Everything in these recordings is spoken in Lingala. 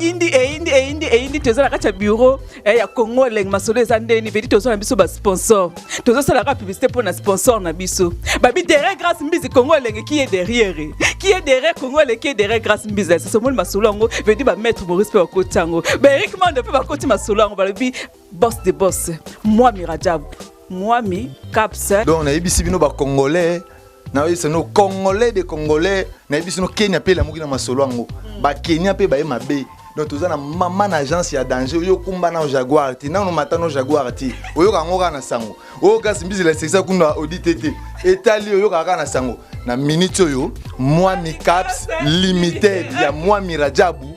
eyindi eyindi eyindi eyindi toza na kati ya bureau eh, ya congo elenge masolo eza ndeni vedi toza na biso basponsor tozosalaka publicité mpo na sponsor na biso babi derrière grace mbizi congo elenge qui est derrière qui est derrière congo elenge qui est derrière grace mbizi esasomoli masolo yango vedi bamaître maurice mpe bakoti yango baerik mando mpe bakoti masolo yango balobi boss de boss mwami rajab mwami caps donc nayebisi bino bacongolais nayebisa no congolais de congolais nayebisi no kenya mpe elamuki na masolo yango bakenya mpe baye mabe donc toza na mama na agence ya danger oyo okumba nao jaguar te nano mata no jaguar te oyoka yango kaka na sango oyo kasi mbizela esekisa kuna audite te etali oyokaka kaka na sango na minute oyo mwami caps limited ya mwami rajabu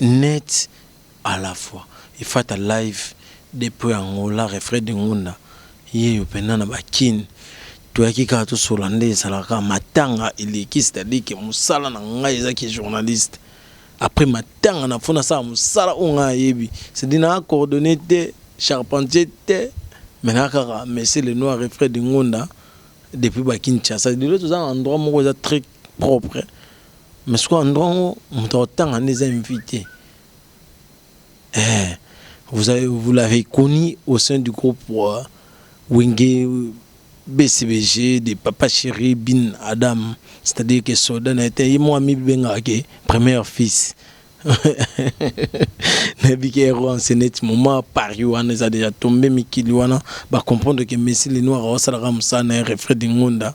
Net a la fois efata live depuis Angola refrain de ngunda yeyo pena na ba kin toyaki kaka tosolola nde ezalaka kaka matanga eleki c'est à dire que musala na ngai eza ki journaliste après matanga na faut nasala musala oyo ngai nayebi c'est à dire naza coordonne te charpentier te mais naza kaka monsieur le noir refrain de ngunda depuis ba kinshasa lelo toza na endroit moko eza très propre Mais sikoyo endroit yango moto akotanga nde eza invité eh, vous, avez, vous l'avez connu au sein du groupe euh, Wenge BCBG de Papa Chéri Bin Adam c'est-à-dire que soda na ete ye mwa mibengaka ke premier fils nayebi ke ero enseneti moma paris wana eza déjà tombe mikili wana bacomprendre ke messi le noir aosalaka mosala na ye refred ngonda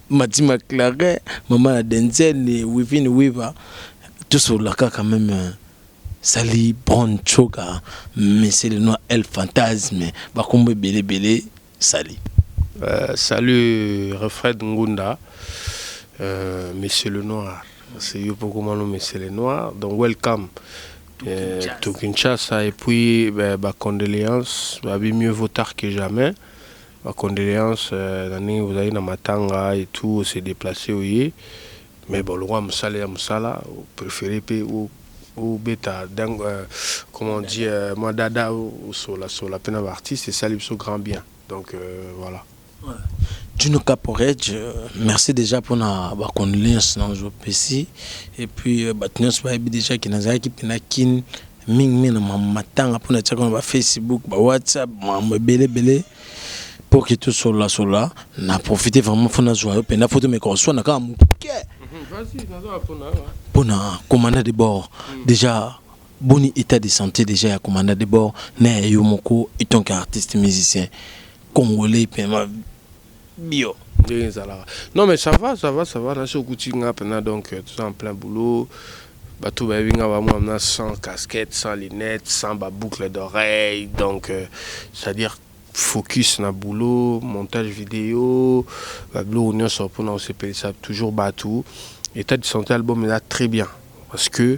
Mati Maclare, mama na Denzel, Wivine Wiva, tosolola kaka meme sali Brown Choga, Monsieur le Noir El Fantasme, bakombo ebele ebele sali. Euh, salut Refred Ngunda, euh, Monsieur le Noir, c'est yo pour comment Monsieur le Noir, donc welcome. Euh, tout Kinshasa et puis bah, bah, condoléances, bah, mieux vaut tard que jamais. Ba condoleances na ndenge bozali na matanga et tout o se deplacer oye mais bon lokola musala eza musala o preferer pe o beta comment on dit mua dada o sola sola pe na ba artistes esali biso grand bien donc voila. Djino Caporet merci dejà pona ba condoleances na ozo pesi et puis batu nionso bayebi dejà que nazalaki pe na kin mingi mingi na matanga mpo natiaka na bafacebook bawhatsapp makambo ebele ebele mpo ke tosolola solola na profite vraiment mpo nazwa yo mpenza mpo tomeka oswana kaka moke mpo na commanda de bord hmm. déjà boni état de santé déjà ya commanda de bord na ya yo moko etant que artiste musicien congolais mpema bio. Ndenge ezalaka non mais ça va ça va ça va nasi okuti nga pena donc euh, toza en plein boulot bato bayebi nga bamwa na sans casquette sans lunette sans ba boucle d'oreille donc euh, c'est à dire focus na boulot montage vidéo babiloko nyonso mpona kosepelisa toujours bato état de santé album eza très bien Parce que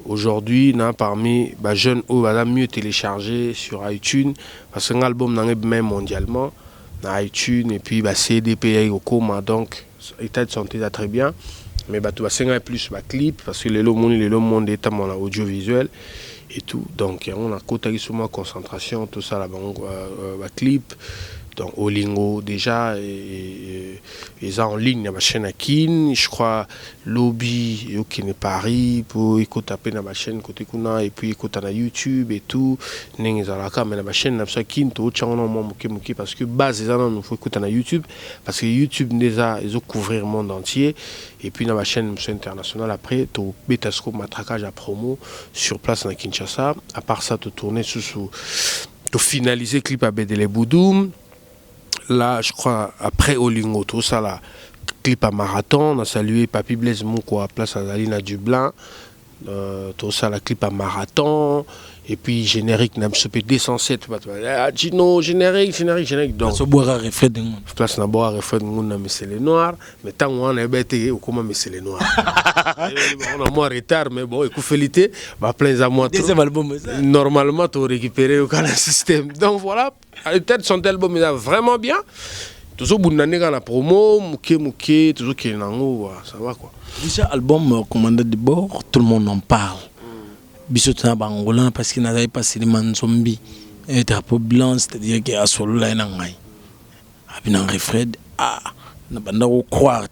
aujourd'hui na parmi ba jeunes oyo baza mieux telecharge sur iTunes parce que nga album na nga ebimaki mondialement na iTunes et puis ba CD pe eyaki kokoma donc état de santé eza très bien mais bato basengaki plus ba clip parce que lelo omoni lelo monde etambola na audiovisuel et tout donc yango nakotaki so mwa concentration tosala bango ba clip donc olingo déjà eza en ligne na ba chaîne ya kin je crois lobi eokende Paris po ekota pe na ba chaine cote kuna et puis ekota na YouTube et tout ndenge ezalaka mais na ba chaine na biso ya kin totia yango nano mua muke muke parce que base eza nanu faut ekota na YouTube parce que YouTube nde eza ezo couvrir monde entier et puis na ba chaine mosusu ya international après tobeta sikoyo matraquage ya promo sur place na Kinshasa à part ça to tourne susu to finalise clip ya Bedele Boudou Là je crois après Olingo to sala clip à marathon na saluer Papy Blaise Mukwa place azali na Dublin euh, to sala clip à marathon et puis générique na biso pe 207 bato ah, Gino générique générique générique donc so boira reflet de monde place na boira reflet de monde na monsieur le noir mais tant on est bête au comment monsieur le noir on a moins retard mais bon écoute félité bah plein à moi deuxième album normalement tu récupérer au système donc voilà Ah, tete son album eza vraiment bien tozobunda nde kaka na promo moke moke tozokende na yango wa ça va quoi déjà album euh, commandant de bord tout le monde en parle biso tona bangola parce que nazali pasilima nzombi eh, drapeau blanc c'est-à-dire ke asolola ye na ngai abina refred ah nabanda kocroire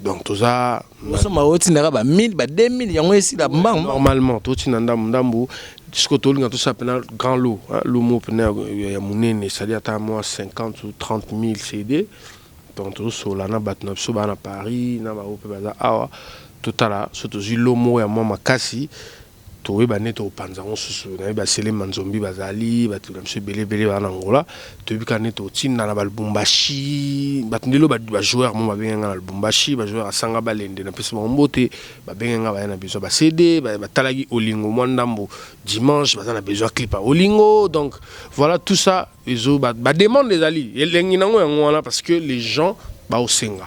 donc toza osomba otindaka ba 1000 ba 2000 yango esila mbangu normalement totinda ndambu ndambu siko tolinga tosala mpena grand lot lomo mpena ya monene esali ata mwa 50 ou 30 000 cd donc tozosola na bato na biso baa na paris na baoyo mpe baza awa totala so tozwi lo moko ya mwa makasi Toyeba nde tokopanza yango susu naye ba sele manzombi bazali batu na biso ebele ebele ba na ngola toyebi kaka nde totinda na ba lubumbashi batu nde loba ba joueur mo babenge nga na lubumbashi ba joueur asanga balende na pesi bango mbote babenge nga baya na besoin ba CD batalaki olingo mwa ndambo dimanche baza na besoin clip ya olingo donc voilà tout ça ezo ba demande ezali elengi nango yango wana parce que les gens baosenga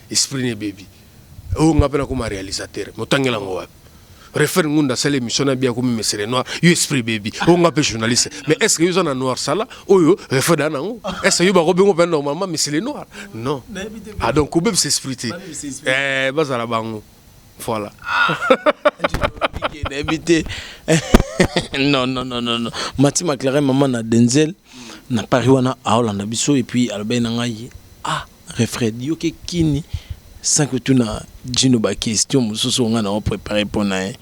Esprit ne bebi. Oyo nga pe na koma realisateur. Moto angela ngo wapi? Refer Ngunda asali emission na bia komi Mesere Noir, yo esprit baby, oyo nga pe journaliste. Mais est-ce que yo za na Noir sala oyo refer da nango? Est-ce que yo ba ko bengo pe normalement Mesere Noir? Non. Ah donc ko bebisa esprit te. Eh bazala bango. Voilà. Ah. N'habite. non, non, non, non, non. Mati McLaren, maman na Denzel, na Paris wana, aolanda biso, et puis, alobé na ngai, ah, Refred yo ke kin sans ko tuna djino ba question mususu oyo nga na o prepare pona ye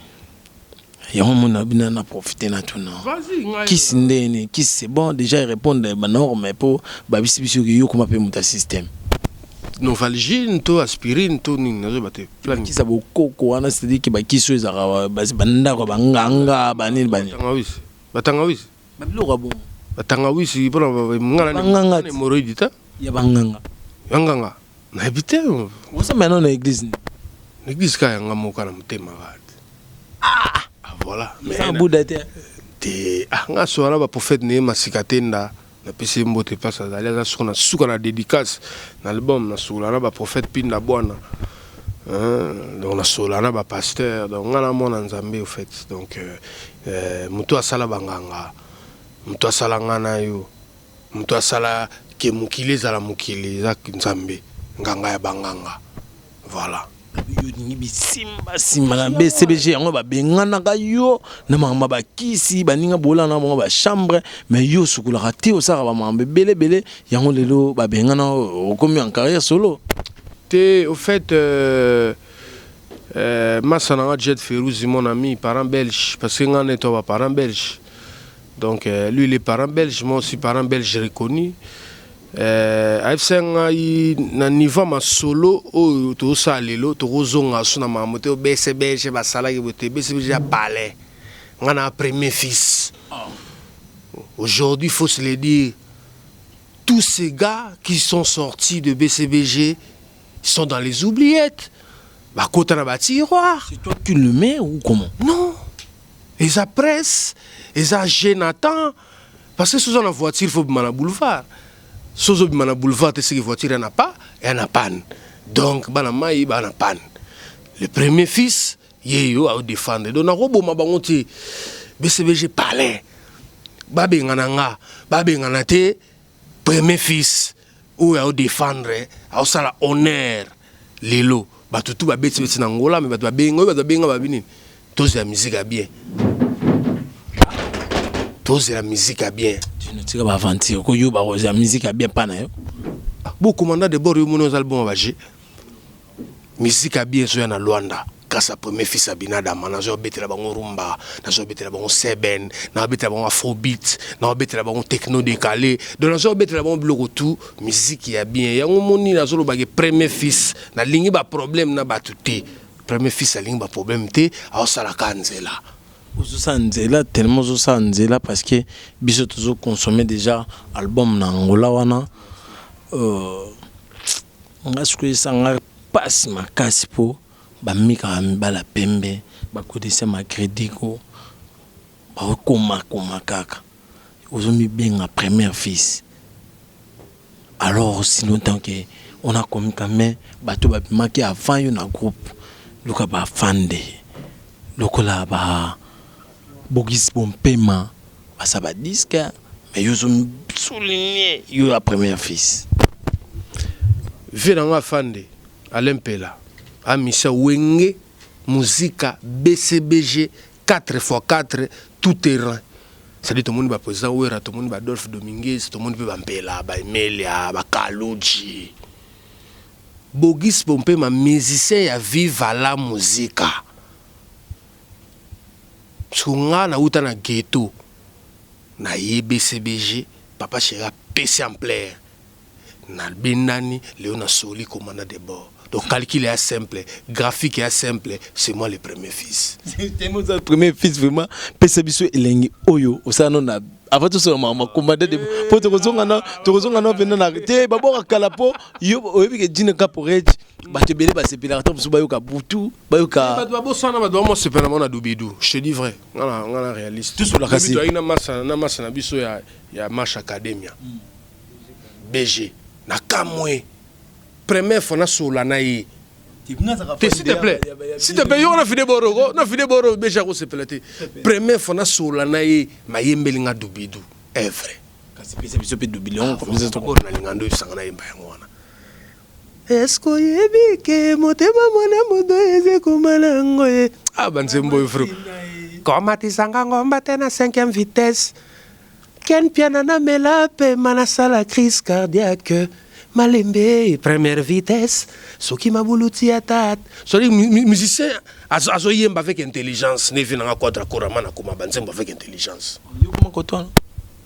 yango omona bina na profite na tuna kis nde nini kis c'est bon dejà e repondre ba norme po ba bisi biso ke yo koma pe muta système Novalgine to aspirine to nini nazo yeba te plan kisa bo koko wana c'est à dire ke ba kisi oyo ezalaka ba ndako ba nganga ba nini ba nini ba tangawisi ba tangawisi Ba biloko ya bongo. Ba tangawisi pona ba ngana ni. Ba nganga. Ni moroidi ta. Ya ba nganga. Ba nganga. Na habite. Osa mena na eglise ni. Na eglise ka ya nga moka na motema rat. Ah! Ah voilà. Mais na buda te. Te. Ah nga so na ba prophète ne masika te nda. Na pesi mbote place azali aza soko na suka na dedicace na album na sula na ba prophète pinda bwana. Hein? Donc na sola na ba pasteur. Donc nga na mwana Nzambe au fait. Donc euh, Eh, moto asala banganga, moto asala nga na yo, moto asala ke mokili ezala mokili, eza Nzambe, nganga ya banganga. Voilà. yo olingi bisimbasimba na bcbg yango babenganaka yo na makambo ya bakisi baninga bolana na bango bachambre mais yo osukolaka te osalaka bamakambo ebele ebele yango lelo babengana yo, okomi en carrière solo te au fait euh, Euh, masa na nga Jet Feruzi mon ami, parent belge, parce que nga neto ba parent belge. Donc euh, lui il est parent belge, moi aussi parent belge reconnu. Euh, ayebisa ngai na niveau ma solo oyo tozosala lelo tokozonga so na makambo te obese belge basalaki boye te ebese belge ya palais nga na premier fils ah. aujourd'hui faut se le dire tous ces gars qui sont sortis de bcbg sont dans les oubliettes bakota na batiroir c'est toi qui le mets ou comment non eza presse eza génatan parce que soza na voiture faut bima na boulevard sozo bima na boulevard te seke voiture yana pa yana panne donc bana mai bana panne le premier fils ye yo aodefendre donc nakoboma bango te bcbg palin babengana nga babengana te Premier fils oyo ao defendre ao sala honneur lelo batu tout ba beti beti na ngola mais batu ba bengi oyo batu ba bengi ba bini tozi la musique ya bien tozi la musique ya bien tu ne tika ba aventure ko yo ba rozi la musique ya bien pa na yo ah, bo commandant de bord yo mono ozali bon ba jeu Musique ya bien ezoya na Luanda grâce à premier fils ya Binadama nazoya kobetela bango rumba nazoya kobetela bango seben nazoya kobetela bango afrobeat nazoya kobetela bango techno décalé donc nazoya kobetela bango biloko tout musique ya bien yango omoni nazolobake premier fils nalingi baproblème na bato te premier fils alingi baproblème te aosalaka nzela ozosala nzela tellement ozosala nzela parce que biso tozoconsomme déjà album na angola wana euh, Nga sikoyo esa nga pasi makasi po ba mika ba mibala pembe ba kotisa ma credit ko ba koma koma kaka ozo mi benga première fils alors aussi longtemps que on a commis ka mais bato ba bimaki avant yo na groupe luka ba fande lokola ba bogis bompema Basa ba disque mais yo ozo souligne yo la première fils. Vieux na nga afande Alain Mpela a misa wenge musica BCBG 4 fois 4 tout terrain c'est à dire tomoni ba president Werra tomoni ba Adolphe Dominguez tomoni pe ba Mpela ba Emelia ba Kaludji Bogis Bompema musicien ya Viva la Musica. Soki nga na wuta na ghetto na ye BCBG papa cheri apesi ampleur na bendani lelo na soli commandant de bord donc calcul eya simple graphique eya simple c'est moi le premier fils. Temo oza premier fils vraiment pesa biso elengi oyo osala no na avant tout ça maman combattre de po to kozonga na to kozonga na venda na te ba boka kala po yo oyebi ke djine caporage ba te belé ba sepela ka tobusu ba yoka butu ba yoka ba ba bosana ba domo sepela mona dubidu je dis vrai ngala ngala réaliste tout sur la kasi to ina massa na massa na biso ya ya marche academia BG na kamwe première fois na sola na ye te s'il te plaît s'il te plaît yo na fide boro ko na fide boro beja ko sepela te première fois na sola na ye mayembeli nga dubidu est vrai kasi pesa biso pe dubidu yango comme ça to ko na lingando isanga na yemba yango wana eske oyebi ke motema mwana moto eze komala yango ye abanzembo efro komatisanga ngomba te na cinquième vitesse Ken mpiana na mela pema na sala crise cardiaque malembe première vitesse soki mabulu ti ya tat soli musicien azo yemba avec intelligence ne vie nanga quadra korama na koma ba nzembo avec intelligence yo koma kotoana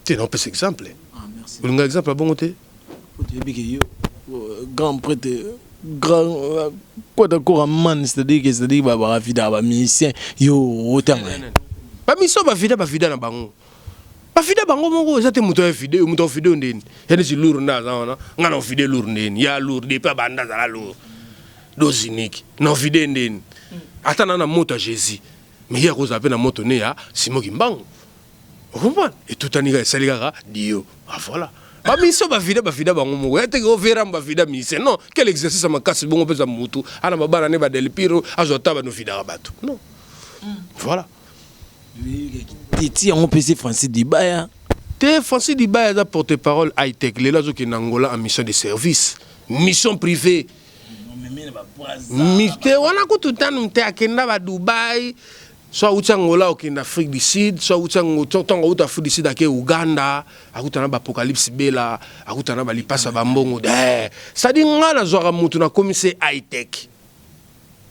te na opesa exemple ah, olinga exemple abongo te oyebi ke yo euh, grand prêtre grand kota euh, kora man c'est-à-dire que c'est-à-dire ba ba vida ba musicien yo otanga ba mission ba vida ba vida na bango Ba fide bango moko eza te moto ya fide moto ya fide ndeni ya neti lour nda aza wana nga na fide lour ndeni ya lour depuis abanda azala lour dose unique na fide ndeni ata na na moto ya Jésus mais ye akozala pe na moto ne ya Simon Kimbangu okomprendre etutani kaka esali kaka dio ah voilà ba mission ba vida ba vida bango moko ya teke overa ba vida mission non quel exercice makasi bongo pesa mutu ana babana ne ba delpiro azo ata ba no vida bato non mm. voilà Titi yango mpe se Francis Dibaya te Francis Dibaya aza porte parole high tech lelo azokende Angola en mission de service mission privée mite wana kutu ntano mte akenda ba Dubaï so awuti Angola okende Afrique du Sud so awuti ntango awuti Afrique du Sud ake Uganda akutana ba apocalypse bela akutana ba lipasa ba mbongo eh, sadi nga nazwaka motu nakomi se high tech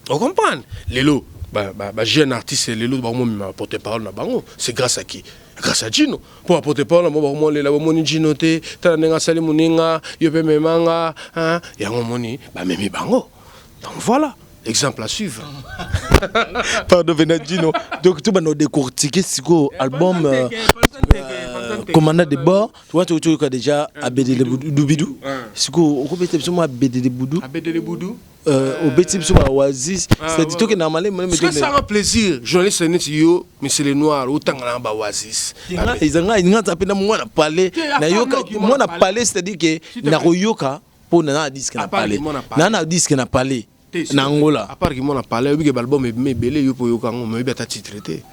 O comprendre? Lelo ba ba ba jeune artiste lelo ba mo ma porte parole na bango, c'est grâce à qui? Grâce à Gino. Pour porte parole mo ba mo lela ba moni Gino te, tala nenga sali muninga, yo pe memanga, hein? Ya ngo moni ba memi bango. Donc voilà. Exemple à suivre. Pardon, venant Gino. Donc, tu vas nous décortiquer ce album. Euh, commandant de bord tu vois tu tu déjà abedele boudou bidou siko okobeta biso mwa abedele boudou abedele boudou Euh, obeti biso ba oasis ah, c'est dit que normalement même que ça rend plaisir journaliste neti yo monsieur le noir otanga na ba oasis ezanga nga tape na mwana pale na yoka mwana pale c'est à dire que na koyoka po na na disque na pale na na disque na pale na Angola à part que mwana pale obi que album ebele yo po yoka ngo mais obi ata titre te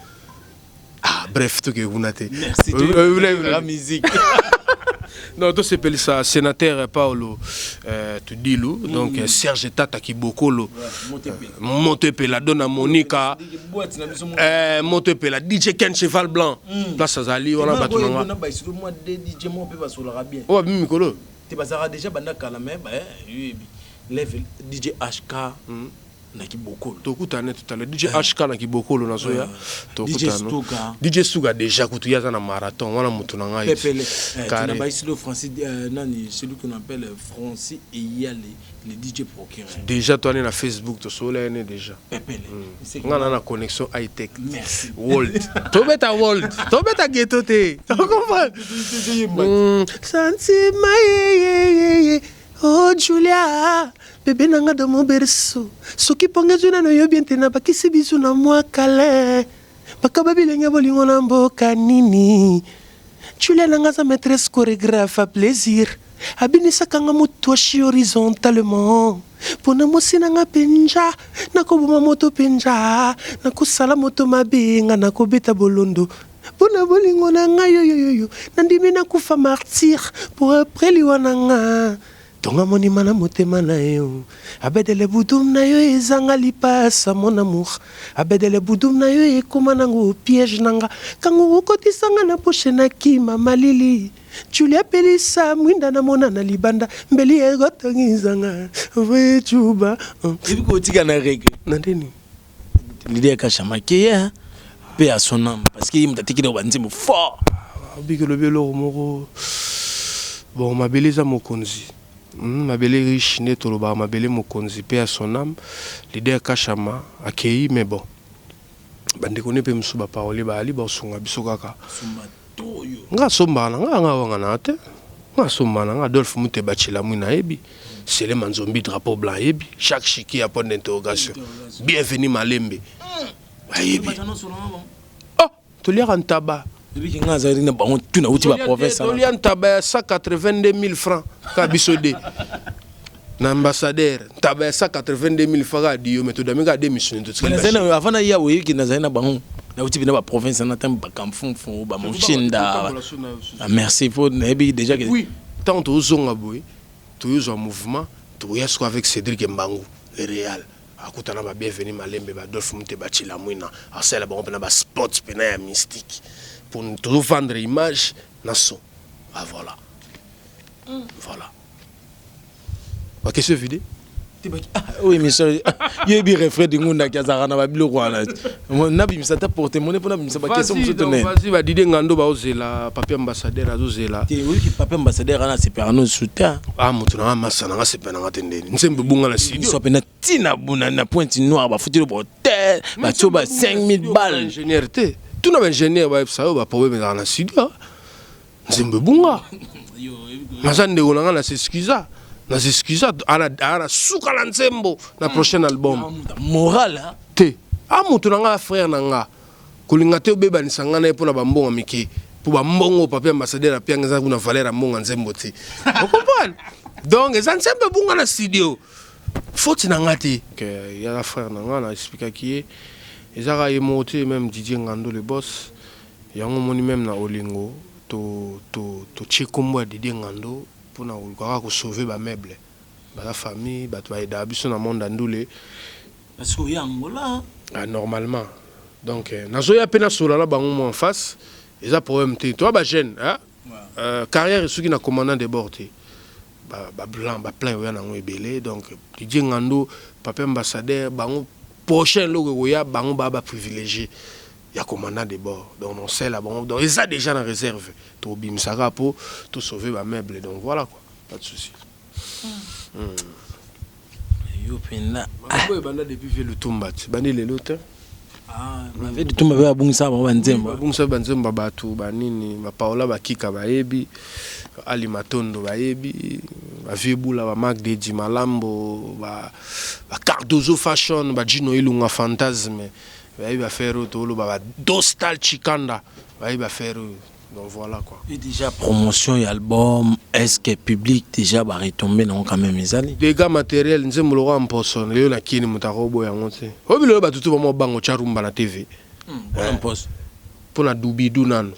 Ah, bref, tout que vous n'avez. Merci. Vous voulez la musique. non to sepelisa sénateur paolo euh, tudilu mm. donc mm. serge tata kibokolo ouais, moto epela dona monika euh, moto epela dj ken cheval blanc mm. place azali wana bato na nga oyo abimi mikolo te bazalaka déjà banda kala me bayebi level dj hk mm. na kibokolo tokutana totala DJ eh. HK na kibokolo na zoya eh. tokutana DJ Stuka déjà kutu yaza na marathon wana mutu na ngai Pepele eh, carré na baisilo Francis euh, nani celui qu'on appelle Francis Eyale le DJ procureur déjà toi na Facebook to sola ene déjà Pepele hmm. nga na na connexion high tech merci world to beta world to beta ghetto te comprends hmm. sentiment Oh Julia, bebe na nga dans mon berceau Soki ponga ezwi nano yo bien te na bakisi bizu na mwa kale Bakaba bilenge bolingo na mboka nini Julia na nga aza maîtresse chorégraphe à plaisir Abinisaka nga mutoshi horizontalement Pona mosi na nga penja Nakoboma moto penja Nakosala moto mabe nga nakobeta bolondo Mpo na bolingo na nga yo yo yo nandimi nakufa martyr pour après liwa na nga tonga monima na motema na yo abedele budum na yo ezanga lipasa mon amour abedele budum na yo ekoma nango piège na nga kango okotisa nga na bouche na kima malili Julia pelisa mwinda na mona na libanda mbeli egotongi zanga vuechuba Ebi kotika na reggae. na ndeni Leader Kashama qui est hein? Paix à son âme parce que il m'a dit qu'il a nzembo fort. Obiki lobi eloko moko bon mabele eza mokonzi hmm, mabele riche nde tolobaka mabele mokonzi mpe ya son âme leader kashama akei mais bon bandeko nde mpe mosusu baparole baali baosunga biso kaka nga sombaka na nga nga wanga na te nga sombaka na nga Adolphe Muteba Chilamwi na yebi Sele Manzombi drapeau blanc yebi chaque chiki ya point d'interrogation bienvenue Malembe ayebi oh toliaka ntaba ebiki nga azali na bango tuna uti ba province tolia ntaba ya 182000 francs ka biso de Na ambassadeur ntaba ya 182000 faka adi yo mais to dame kaka de misuni to tikali ba chine. Avant na ya oye ki na zali na bango na uti bina ba province na tango ba kamfunfu ba mushinda. Ah, merci po na yebi deja ke. Oui, tango to zonga boye to yo zwa mouvement to ya siko avec Cedric Mbangu le Real. akutana ba bienvenu malembe ba Adolphe Mute ba Chilamwina asala bango pena ba spots pena ya mystique pour to vendre image na son ah voilà mm. voilà ba question vide tebaki ah oyo oh, émission yebi refrain de ngunda ki azalaka na babiloko wana nabimisa ata porte mone mpo nabimisa bakestion mosusu tonevasi badide ngando baozela papier ambassadeur azozela te oyiki papier ambassadeur ana asepelaka no suta a ah, moto nanga masa nanga asepela nanga te ndeni nsembe ebunga na sidiso mpe na ntina bona na pointe noire bafuteli bohotel batio ba 5000 balle ingénieur te tuna baingénieur bayebisa yo baproblème ezalaka na studio nzembo ebunga naza ndeko na ngai na s'excusa na s'excusa ana suka na nzembo na prochain album moral te a moto na ngai frère na ngai kolinga te obebanisa ngai na ye mpo na bambongo mike mpo bambongo papier ambassadeur ya pianga eza kuna valeur ya mbongo ya nzembo te okomprane donc eza nzembo ebunga na studio foti na ngai te yaka frère na ngai na explikaki ye ezaka ye moko te meme didie ngando le boss Yango omoni meme na olingo to to totie kombo ya Didier Ngando pona koluka kaka ko sauver ba meubles. Baza famille batu ba aidaka biso na monde ya ndule. Parce que oye Angola. Ah normalement donc nazoya pe nasolola na bango mua en face eza problème te toza ba jeunes hein carrière esuki na commandant de bord te ba ba plan ba plan ekoya nango ebele donc Didier Ngando, Papy Ambassadeur bango prochain eloko ekoya bango ba ba privilegier. ya commandant de bord donc na osala bango donc eza dejà na reserve tobimisa kaka po to sauver ba meubles donc voilà quoi pas de souci yo mpenza makambo oyo ebanda depuis vie lutumba ti bandi lelo te mave litumba mpe abungisaka bango banzembo babungisa banzembo ya bato banini bapaola bakika bayebi ali matondo bayebi bavie bula bamark dedi malambo ba ba cardozo fashion bajino ilunga fantasme Bayebi affaire oyo toloba ba Dostal Chikanda bayebi affaire oyo donc voilà quoi. Et déjà promotion ya album est-ce que public déjà ba retomber nango quand même ezali? Dégâts matériels nzembo lokola mposo lelo na kini moto akoboya yango te. Oyebi lelo bato tu bamwa bango tya rumba na TV. Mpona mposo. Mpo na dubidu nanu.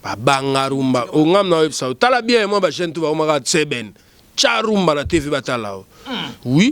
Babanga rumba. O ngam na oyebisa yo tala bien mwa ba jeune tu bakomaka tseben. Tya rumba na TV batala yo. Oui.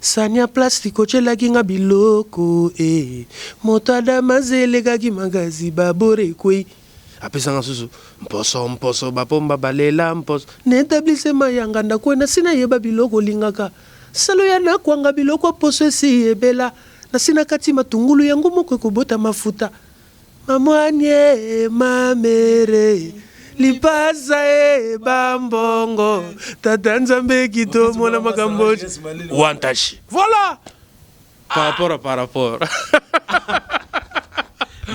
Sania plastic otielaki nga biloko eh Moto ya Damas elekaki makasi ba bord ekwei Apesa nga susu mposo mposo ba pomba ba lela mposo Na etablissement ya nganda kue nasi na yeba biloko olingaka Salo ya na kwanga biloko ya poso esi ebela Nasi na kati matungulu yango moko ekobota mafuta Ma mwanye e ma mere e lipasa e ba mbongo tata nzambe kito mona makambo wantashi voilà par rapport à par rapport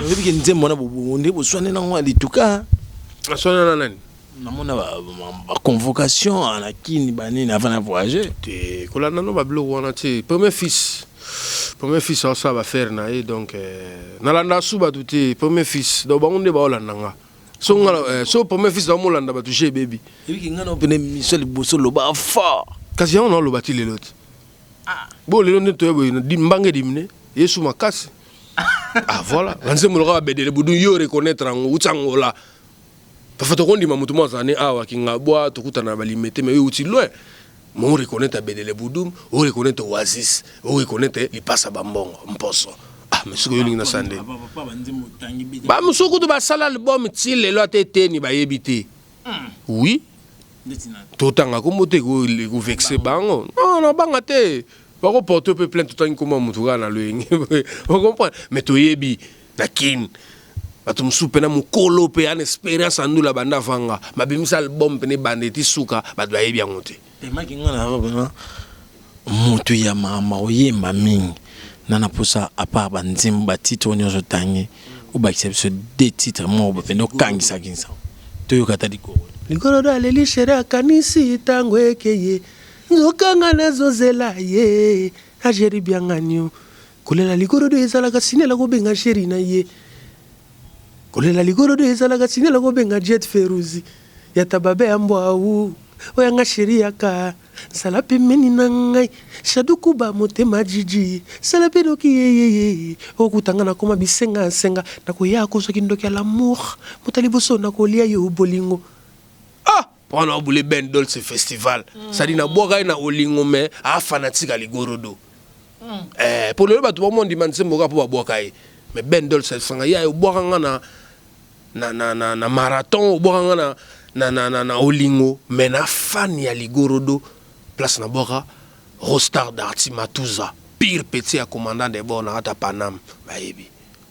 oyebi ke nzembo wana bobongo nde boswane nango ya lituka aswana na nani namona ba, ba, ba convocation na kini banini avant na voyage te kolanda no babiloko wana te premier fils premier fils aosala bafere na ye donc euh, nalanda su bato te premier fils donc bango nde baolanda nga so nga euh, so premier fils naomolanda bato je ebebi ebiki nga na pene miso liboso loba fort kasi yango naoloba ti lelo te ah. bo lelo nde toya boye mbange dimine yesu makasi ah voilà banzembo loka babedele budu yo reconnaître yango uti angola Parfois tokondima moto moko azala ne awa Kingabwa, tokutana na ba Limete, mais euti loin. Mais o reconnaitre Bedele Budum, o reconnaitre Oasis, o reconnaitre Lipasa Bambongo, Mposo. Ah, mais soki olingi nasala nde. Ba mosusu kutu basala album ti lelo ata eteni bayebi te. Hmm. Oui. Totanga kombo te ko vexer bango. Non, non, banga te. Bako porter pe plainte totangi kombo ya moto kaka na loyenge. Vous comprenez? Mais toyebi. na kin bato mosusu mpena mokolo mpe ana experience ya ndula banda vanga babimisa album mpena ebanda eti suka bato bayebi yango te emaki nga na yango mpena moto ya makambo oyemba mingi na na mposa apart banzembo batitre oyo nyonso otangi obakisa biso de titre moko bopenda okangisaki nsa toyoka ata likolo likolo do aleli shere akanisi ntango ekeye nzokanga nazozela ye ajeri bianganio Kolela ligorodo ezalaka signal ya kobenga cheri na ye. Kolela ligorodo ezalaka signal ya kobenga Jet Feruzi ya tababe ya mbwa awu oya nga cheri ya ka nsala pembeni na ngai Shadu Kuba motema Jiji sala pe noki yeyeye okuta nga na koma bisenga senga na koya kozwa kindoki ya l'amour mbuta liboso na kolia yo bolingo ah Papa na obule Ben Dolce Festival. Mm. Sadi na bwaka ye na olingo me a fanatique aligorodo. Mm. Eh, pour le bato bomon ndima nzembo kaka po babwaka ye. Mais Ben Dolce sanga ya obwaka nga na na na na, na marathon obwaka nga na na na na, na olingo me na fan ya ligorodo place na bwaka Rostar Darty Matuza pire petit ya commandant de bord na ata Paname bayebi.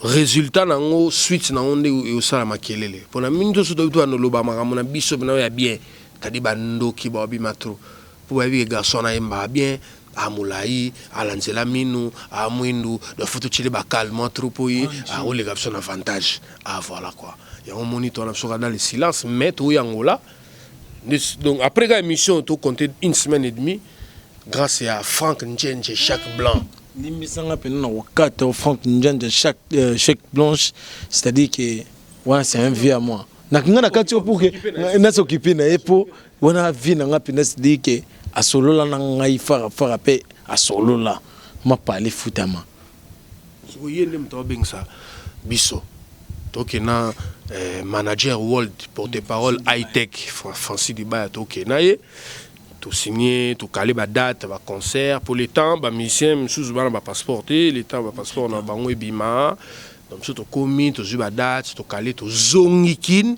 Resultat na ngo suite na ngo nde eosala makelele pona mini toso toyebi tobanda oloba makambo na biso pena oyo ya bien tadi ba ndoki bao bima trop po bayebi ke garçon wana ayembaka bien a molayi alanzela minu a muindu donc faut totieli ba calmant trop po ye akoleka biso na avantage a voila quoi yango omoni towana biso kaka dans le silence mais toye angola Donc après la émission, tu compté une semaine et demie grâce à Franck Ndjenje, chaque blanc. Limbisanga pena na wakata Franck Ndjenje, chaque euh, chaque blanche, c'est-à-dire que voilà, c'est un vieux à moi. Na kinga na kati pour que na s'occuper na epo, wana vie na nga pena c'est-à-dire que a solo la na ngai fara fara pe a solo la ma parler foutama. Sikoyo ye nde moto abengisa biso toke na eh, manager world porte parole high tech Francis Dibaya toke na ye tosigne tokale badate baconcert mpo le temps bamusicien mosusu bana bapasseport te le temps bapasseport na bango ebima donc biso tokomi tozwi badate tokale tozongi kine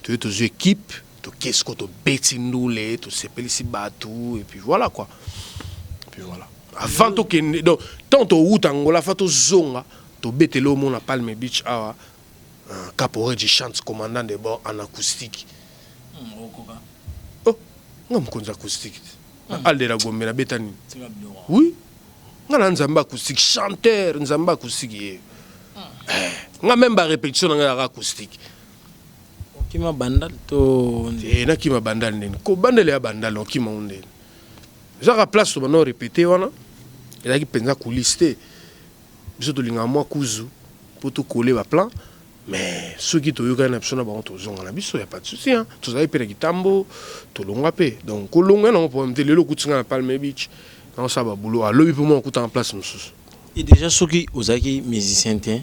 toye tozwi équipe toke siko tobeti ndule tosepelisi bato epuis voilà quoi epuis voilà avant tokende donc ntango towuta angola fa tozonga tobetele omona palme beach awa euh, caporeji chante commandant de bord en acoustique hmm, oh, nga mokonzi acoustique te na hmm. aldera gombe nabeta nini oui nga na nzambe acoustique chanteur nzambe acoustique ye hmm. eh, nga meme barépétition na ngai yaka acoustique okima bandal to eh, nakima bandal ndeni kobandela ya bandal okima o ndeni Eza kaka place to banda ko repeter wana ezalaki penza coulisse te. Biso tolingaka mwa kuzu mpo to coller ba plans mais soki toyokani na biso na bango tozonga na biso ya pas de souci hein. Tozalaki mpe na kitambo tolongwa mpe donc kolongwa nango problème te. Lelo okuti ngai na Palm Beach naosala ba boulot ah lobi mpe mwa okutana place mosusu. Et dejà soki ozalaki musicien te.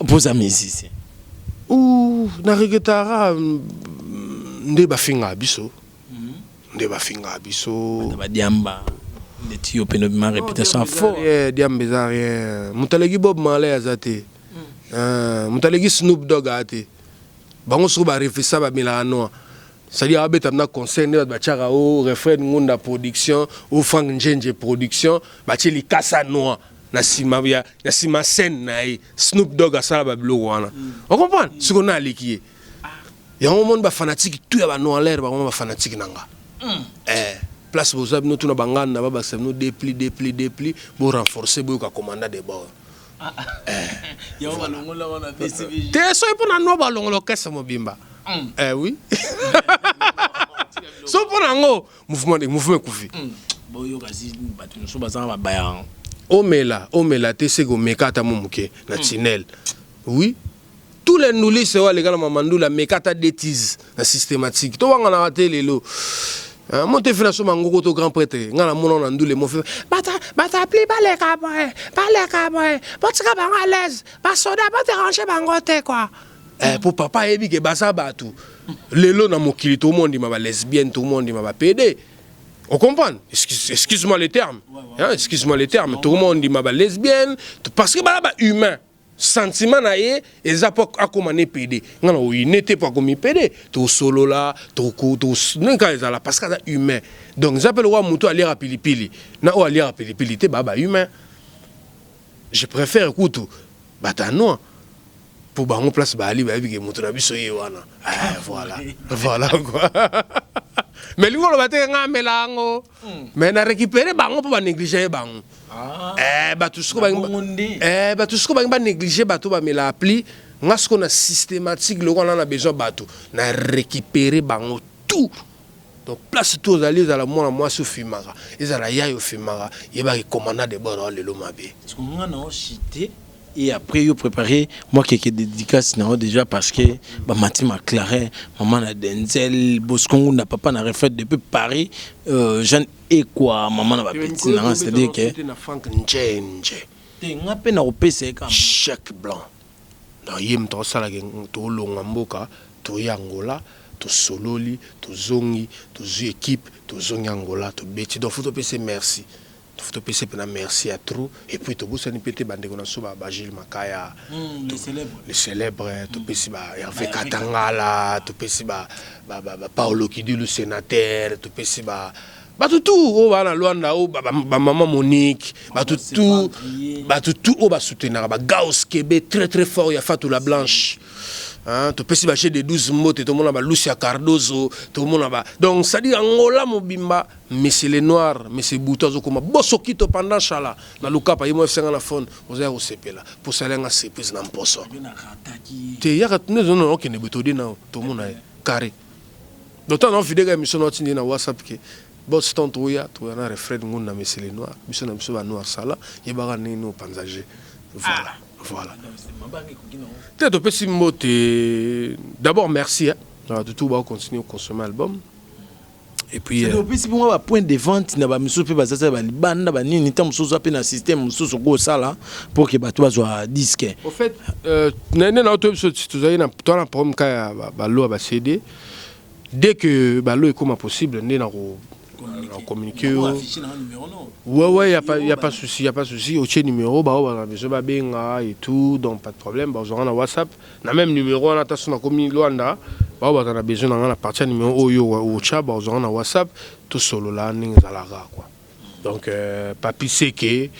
Boza musicien. Ouh na regretara nde bafinga biso mhm. nde bafinga biso badiamba ndeti yo pene ma réputation fort eh, diamba eza rien moto aleki bob malay aza te mm. eh, moto aleki snoop dog aa te bango soko bareflechisa bamelaka noa c'est-à-dire abeta na conseil nde bato batiaka o oh, refrain ngunda production o oh, frank njenje production batie likasa noa na sima ya na sima scène na ye Snoop Dogg asala ba biloko wana mm. o comprendre siko na aleki ye yango moni ba fanatique tout ya ba noir ba ba fanatique na nga mm. eh place boza bino tuna bangana na babakisa bino depli depli depli bo renforcer boyoka commanda de bord ah, ah. Eh, te soki mpo na no balongola okese mobimba mm. eh oui so mpo na yango mouvement ndenge mouvement ekufi hmm. boyokasi bato nyonso bazanga babaya omela omela te seke omeka ata mo moke na hmm. tunnel oui tous les ndulise oyo aleka na mamandula ameka ata detise na systématique towanganaka te lelo Hein, mon te fina soma ngoko to grand prêtre nga na mona na ndule mo fe bata bata pli ba le ka boy ba le ka boy ba tika ba à l'aise ba soda ba déranger bango te quoi Eh, po papa ayebi ke baza bato lelo na mokili tout le monde ma ba lesbienne tout le monde ma ba pede on comprend excuse, excuse moi le terme hein, excuse moi le terme tout le monde ma ba lesbienne parce que bala ba humain sentiment na ye eza po akoma ne pede nga na oyine te po akomi pede tosolola toka ezala parce que aza humain donc eza mpe lokola motu aliaka pilipili na oyo aliaka pilipili te baa ba humain je préfère kutu bato ya noir Po bango place baali bayebi ke moto na biso ye wana eh, voilà voilà quoi mais lingo loba te nga amela yango hmm. mais na récupérer bango po ba négliger ye bango ah. eh bato siko ba eh bato siko ba ba négliger bato ba mela appli nga siko na systématique loko na na besoin bato na récupérer bango tout donc place tout ozali ezala mwana mwasi ofimaka ezala yayo ofimaka yebaki commandant de bord lelo mabe Et après yo prepare moi quelques dedicaces na yo dejà parce que ba mati ma clarin maman na denzel bosco ngunda papa na refait depuis paris euh, jeanne ekwa maman na ba petits na nga c'est à dire que na frank njenje te nga pe na kopesa ye kama jacques blanc na ye moto asalaka tolonga mboka toya angola tosololi tozongi tozwi ekipe tozongi angola tobeti donc fo topesa merci to pesi pe na merci ya trop et puis to bosani pe te ba ndeko na biso ba ba Jules Makaya mm, to, le célèbre mm. to pesi ba Hervé Katangala to pesi ba ba ba, ba Paolo Kidilu sénateur to pesi ba bato tu oyo oh, baa na lwanda oyo oh, bamama monique bato tu bato tu oyo oh, basoutenaka bagaos kebe très très fort ya fatou la blanche Hein, topesi baje de 12 mbote tomona balusi ya cardozo tomona ba donc sadi angola mobimba Monsieur le noir, monsieur butu azo koma bosokito pendant shala na lukapa ye mwafisa nga na phone oza ya kosepela po osali nga surprise na mposo te yaka tuna ezo na okende boye tode nao tomona ye carre d'autant na ofideka emission na otindi na whatsapp ke boss ton toya toya na refrain ngun na monsieur le noir biso na biso ba noir sala yebaka ndenge ni opanza je voilà ah. voilà te topesi mbote d'abord merci hein na batutu ba continuer consommer album et puis euh, opesi bongo ba point de vente na ba misusu pe bazaza ba libanda ba nini ntango mosusu oza pe na système mosusu okoki kosala pour que bato bazwa disque au fait euh, na nde nao toyebi so tozali na toa na problème ka ya balo ya ba cd dès que balo ekoma possible nde na ko communiquer yo ouais ouais y a pas y a pas souci y a pas souci otie numéro baoyo baza besoin babenga et tout donc pas de problème bazwanga na whatsapp Na meme numero wana ata soki nakomi Luanda bao baza na besoin na nga na partir ya numero oyo yo otia bakozwa nga na WhatsApp tosolola ndenge ezalaka quoi. Donc euh, Papi Seke,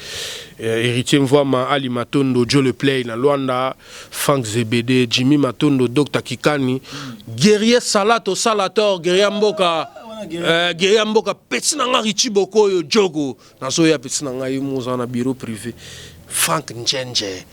euh, Héritier Mvwama, Ali Matondo, Joe Le Play na Luanda, Frank Zebede, Jimmy Matondo, Dr Kikani, Guerrier Salato Salator, Guerrier Mboka, euh, Guerrier Mboka, pesi na nga Richie Bokoyo, Jogo, nazoya pesi na nga ye moza na bureau privé, Frank Njenje.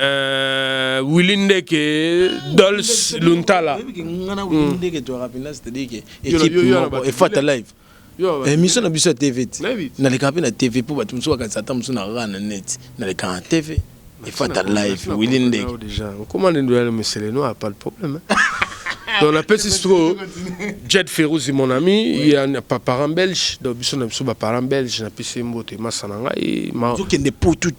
Euh, Willy Ndeke, Dolce Luntala. Efata hmm. live. Emission na biso ya TV. Naleka pe na TV po bato mosusu bakanisa ata mosusu na rara na net. Naleka na TV. Efata live. Willy Ndeke. Comment ndio yale mesele no a pas de problème. Donc la petite stro Jet Ferouzi mon ami, il y a un parent belge, donc biso na biso ba parents belge na pisi mbote masana ngai. Zokende po tout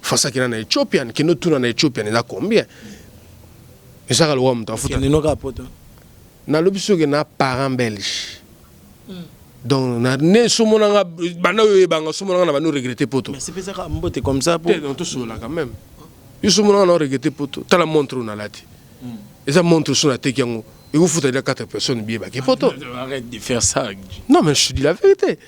Fasa kina na Ethiopian, kino tuna na Ethiopian eza combien? Ezaka lokola moto afuta. Kende noka poto. Na lobi soki na parent belge. Mm. Donc na ne somo na nga bana yo ebanga somo na nga na bana regretter poto. Mais c'est pas ça mbote comme ça pour. Donc tout sola quand même. Yo somo na nga na regretter poto. Tala montre na lati. Mm. Eza montre sona teki yango. Et vous foutez là quatre personnes bien baké poto. Arrête de faire ça. Non mais je dis la vérité.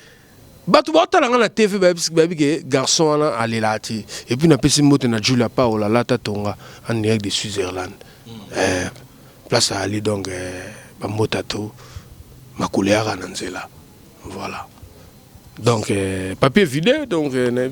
bato baotala nga na tv bayebi ke garçon wana alelaa te epuis napesi mbote na julia paola lata tonga en direct de switzerland mm. eh, place aali donc eh, bambota to makolo yaka na nzela voilà donc eh, papier vide donc eh,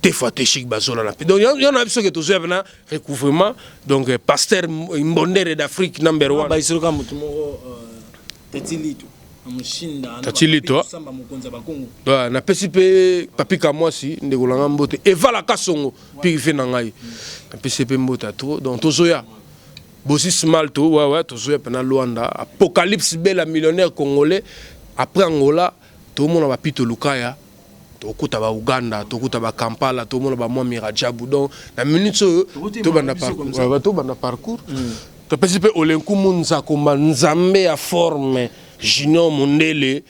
te fate chic bazola na donc yo na biso ke tozo ya na recouvrement donc euh, pasteur mbondere d'Afrique number 1 ah, ba isolo ka mutu moko euh, petit litu tatilito napesi mpe papi kamwasi ndeko na ngai mbote evala kasongo mpe ife na ngai napesi mpe mbote ya trop donc tozoya bosi smalt wawa tozoya mpena luanda apocalypse bela millionnaire congolais après angola tomona bapito lukaya Tokuta ba Uganda, tokuta ba Kampala, tomona ba Mwami Radjabu. Donc na minutes oyo tobanda parcours, tobanda parcours. Topesi pe Olenkumu Nzakomba Nzambe ya forme Junior Mundele.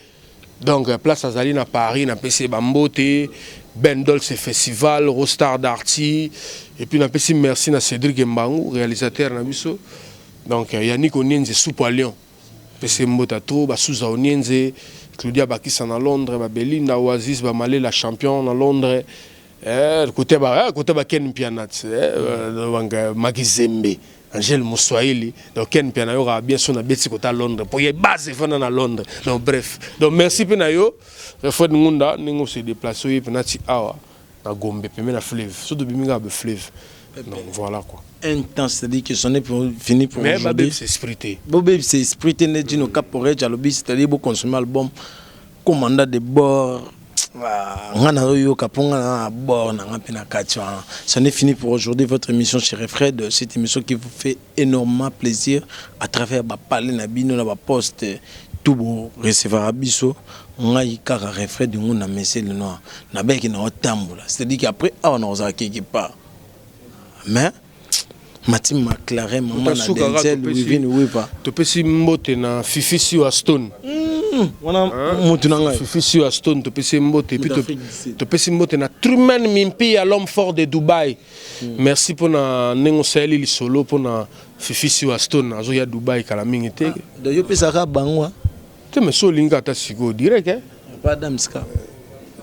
Donc place azali na Paris, napesi ye ba mbote. Ben Dolce Festival, Rostar Darty, et puis napesi merci na Cédric Mbangu, réalisateur na biso. Donc Yannick Onienze Soupe à Lyon. Pese mbote ya trop ba souza onienze Claudia bakisa na Londres ba Belinda oasis ba malela champion na Londres eh kote ba eh kote ba Ken Mpianat eh wanga Magizembe Angel Muswahili donc Ken Mpiana yo ka bien son na beti kota Londres pour ye base fana na Londres donc bref donc merci pe na yo Fred Ngunda ningo se déplacer ye penati awa Na gombe pembeni ya fleuve soki tobimi kaka ba fleuve donc voila quoi. Un temps c'est à dire que c'en est fini pour aujourd'hui mais ba bebisa esprit te bo bebisa esprit te nde Djino Cap Porridge alobi c'est à dire bo consommer album commandant de bord Ah, nga nayoka mpo nga na bord na nga mpe na kati wana ça n'est fini pour aujourd'hui votre émission chez Fred cette émission qui vous fait enormement plaisir à travers ba palais na bino na ba poste tout bo recevaka biso ngai kaka refrain du ngunda monsieur le noir nabelaki na o tambola c'est à dire que après awa na kozala quelque part mais Matin Maclaren, maman na Denzel, Wivine Wiva. Topesi mbote na Fifi Siwa Stone. Hmm, wana hein? mutu na ngai. Fifi Siwa Stone topesi mbote puis topesi mbote na Truman Mimpi ya l'homme fort de Dubaï. Hmm. Merci pour na nengo sali lisolo pour na Fifi Siwa Stone azo ya Dubai kala mingi te. Ah, donc yo pesa ka bango. Hein? Te mais so linga ta siko direct hein. Pas Adam Ska.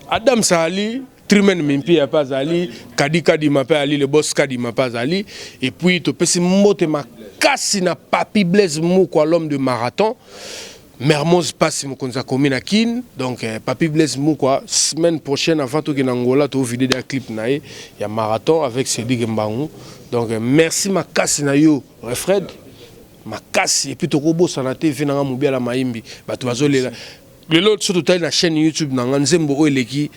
Adam Sali Trimen Mimpi ya pas Ali, Kadi Kadi ma pas Ali, le boss Kadi ma pas Ali et puis to pesi mbote makasi na Papi Blaise Mukwa l'homme de marathon. Mermoz pasi mokonzi ya komi na kin donc eh, papi blaise mukwa semaine prochaine avant tokende angola toovide da clip na ye ya marathon avec cedric mbangu donc eh, merci makasi na yo refred makasi epuis tokobosana te vi nanga mobiala mayimbi bato bazolela lelo so totali na chaîne youtube na nga nzembo oyo eleki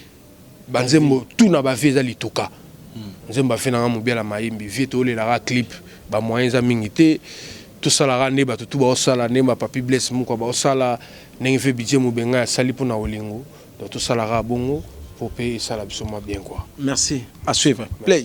Ba nzembo tout na ba vie eza lituka. Nzembo ya vie na nga mubiala mayembe vie tolela ka clip ba moyen eza mingi te to sala ka nde batu tout bao sala nde ba papy blaise mukwa bao sala ndenge vieux bidje mubenga asali pona bolingo donc to sala ka bongo po pe esala biso mwa bien quoi. Merci à suivre play.